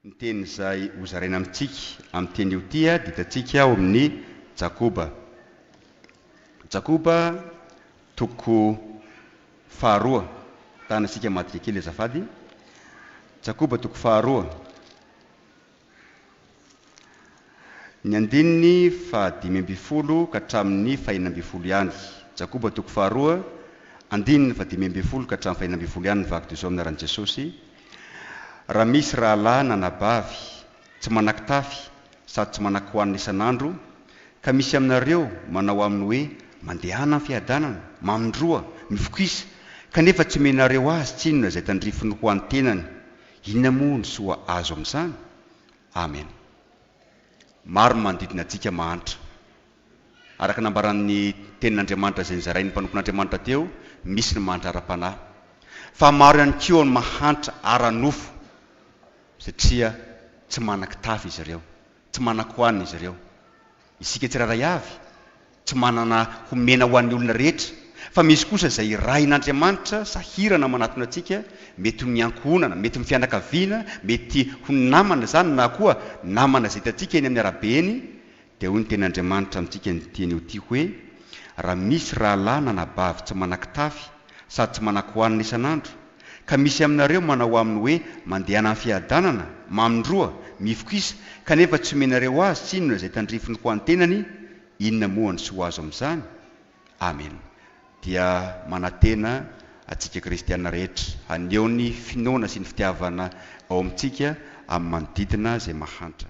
Ny teny izay hozaraina amintsika amin'ny teny io tia dia hitantsika ao amin'ny Jakoba. Jakoba toko faharoa. Mitana isika madika kely azafady. Jakoba toko faharoa. Ny andininy faha dimy ambin'ny folo ka hatramin'ny fahenina ambin'ny folo ihany. Jakoba toko faharoa, andininy faha dimy ambin'ny folo ka hatramin'ny fahenina ambin'ny folo ihany ny vaky dozao minaran'i Jesosy, Raha misy rahalahy na anabavy tsy manan-kitafy sady tsy manan-kohanina isan'andro, ka misy aminareo manao aminy hoe, Mandehana amin'ny fiadanana, mamindroa, mifokisa, kanefa tsy omenareo azy tsinona izay tandrifiny ho an'ny tenany, Inona moa ny soa azo amin'izany? Amen. Maro ny manodidina antsika mahantra. Araka ny nambaran'ny Tenin'Andriamanitra izay nizarain'ny mpanompon'Andriamanitra teo, misy ny mahantra ara-panahy. Fa maro ihany koa ny mahantra ara-nofo, satria tsy manan-kitafy izy ireo, tsy manan-kohanina izy ireo. Isika tsirairay avy tsy manana homena ho an'ny olona rehetra, fa misy kosa izay irahin'Andriamanitra sahirana manatona antsika, mety ho ny ankohonana, mety ny fianakaviana, mety ho ny namana izany na koa namana izay hitantsika eny amin'ny arabe eny, dia hoy ny tenin'Andriamanitra amintsika ny tiany ho tia hoe, Raha misy rahalahy na anabavy tsy manan-kitafy, sady tsy manan-kohanina isan'andro, ka misy aminareo manao aminy hoe mandehana amin'ny fiadanana, mamin-droa, mifokisa, kanefa tsy omenareo azy tsinona izay tandrifiny ho an'ny tenany, inona moa ny soa azo amin'izany? Amena. Dia manantena antsika kristiana rehetra haneho ny finoana sy ny fitiavana ao amintsika amin'ny manodidina izay mahantra.